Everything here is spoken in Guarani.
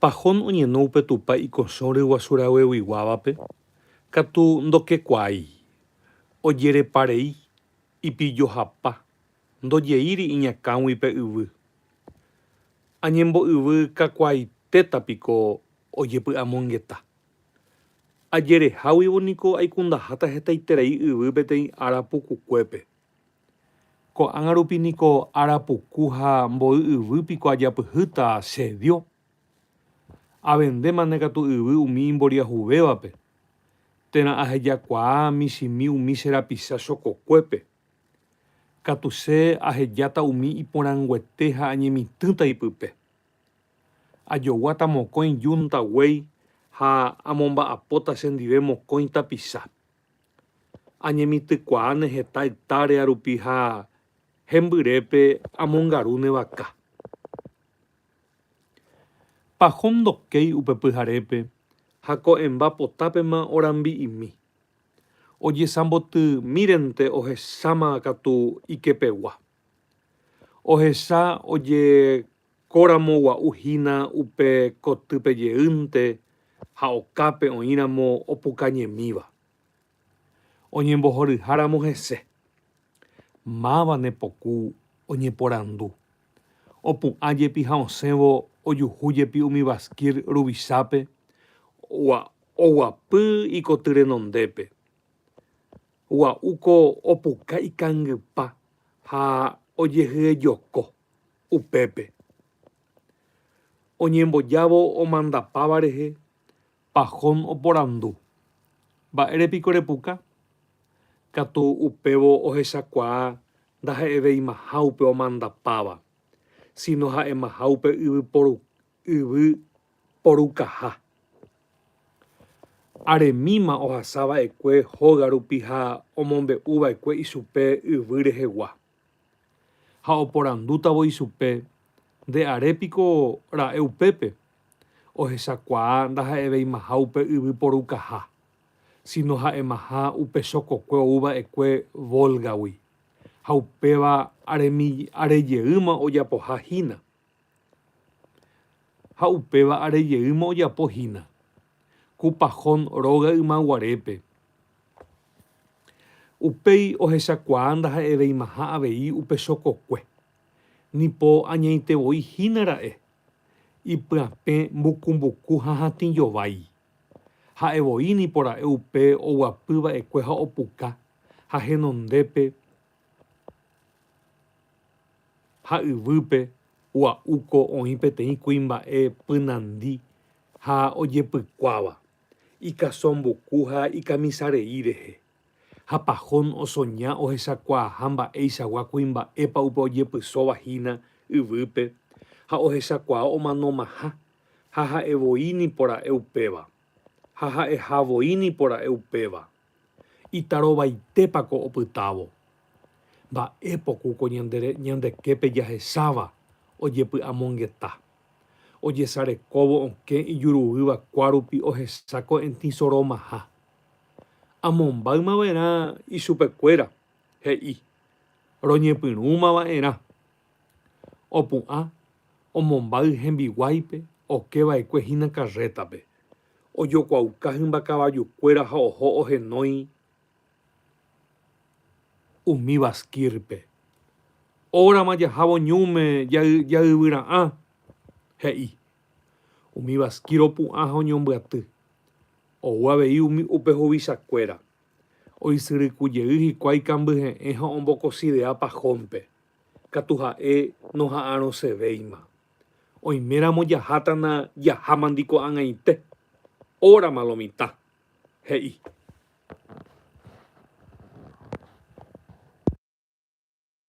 Pahón oñeno upe Tupã ikosõ ryguasu ragueguiguávape katu ndokekuaái, ojerepa rei, ipillohapa, ndojeíri iñakãgui pe yvy. Añembo'yvy kakuaaitéta piko ojepy'amongeta. Ajereháguivo niko aikundaháta hetaiterei yvy peteĩ ára pukukuépe. Ko'ág̃a rupi niko arapuku ha mboy yvy piko ajapyhýta asedio? Avendémane katu yvy umi imboriahuvévape, térã ahejakuaa michĩmi umi che rapisa chokokuépe. Katu che ahejáta umi iporãnguete ha añemitỹta ipype. Ajoguáta mokõi yunta guéi ha amomba'apóta chendive mokõi tapicha. Añemitỹkuaa ne heta ectárea rupi ha hembyrépe amongaru ne vaka. Paho ndokéi upe pyharépe ha ko'ẽmba potápema orambi'imi. Ojesambotymírente ohecháma katu ikepegua. Ohecha ojekóramo gua'u hína upe kotýpe jeýnte ha okápe oĩramo opukañemíva. Oñembohoryháramo hese, máva ne poku oñeporandu. Opu'ã jepi ha osẽvo ojuhu jepi umi Baskir ruvichápe oguapy ikoty renondépe. Gua'u ko opuka ikangypa ha ojehyejoko upépe. Oñembojávo omandapáva rehe, Pahón oporandu, Mba'ére piko repuka? Katu upévo ohechakuaa ndaha'eveimaha upe omandapáva, síno ha'emaha upe yvyporu yvy porukaha. Aremíma ohasa va'ekue hóga rupi ha omombe'u va'ekue ichupe yvy rehegua. Ha oporandútavo ichupe, Nde are piko ra'e upépe? Ohechakuaa ndaha'eveimaha upe yvy porukaha, síno ha'emaha upe chokokue ou va'ekue Vólgagui, ha upéva arejeýma ojapoha hína. Ha upéva are jeýma ojapo hína ku Pajón róga ymaguarépe. Upéi ohechakuaa ndaha'eveimaha avei upe chokokue, ni po añaite voi hína ra'e, ipyapẽ mbuku mbuku ha hatĩ jovái. Ha'e voi nipo ra'e upe oguapy va'ekue ha opuka ha henondépe Ha yvýpe ua'uko oĩ peteĩ kuimba'e pynandi ha ojepykuáva, ikaso mbuku ha ikamisarei rehe. Ha Pahón osoña ohechakuaaha mba'eichagua kuimba'épa upe ojepysóva hína yvýpe ha ohechakuaa omanomaha, ha ha'evoi nipora'e upéva, ha ha'ehavoi nipora'e upéva. Itarovaitépa ko opytávo? Mba'e poku ko ñandeképe jahecháva ojepy'amongeta? Ojesarekóvo okẽ ijuruýva kuárupi ohesa ko'ẽtĩ soromaha. Amombáyma va'erã ichupekuéra, he'i. Roñepyrũma va'erã. Opu'ã, omombáy hembiguáipe oke va'ekue hína karrétape, Ojokuauka hymba kavajukuéra ha oho ohenói umi Baskirpe. Órama jahávo ñúme jayvyra'ã, he'i. Umi Baskir opu'ã ha oñombyaty. Ou avei umi upe huvichakuéra. Oisyryku jey hikuái kambyhe'ẽ ha ombokosidea pajónpe. Katu ha'e noha'arõsevéima. Oiméramo jaháta na jaháma ndiko ag̃aite, órama lo mitã, he'i.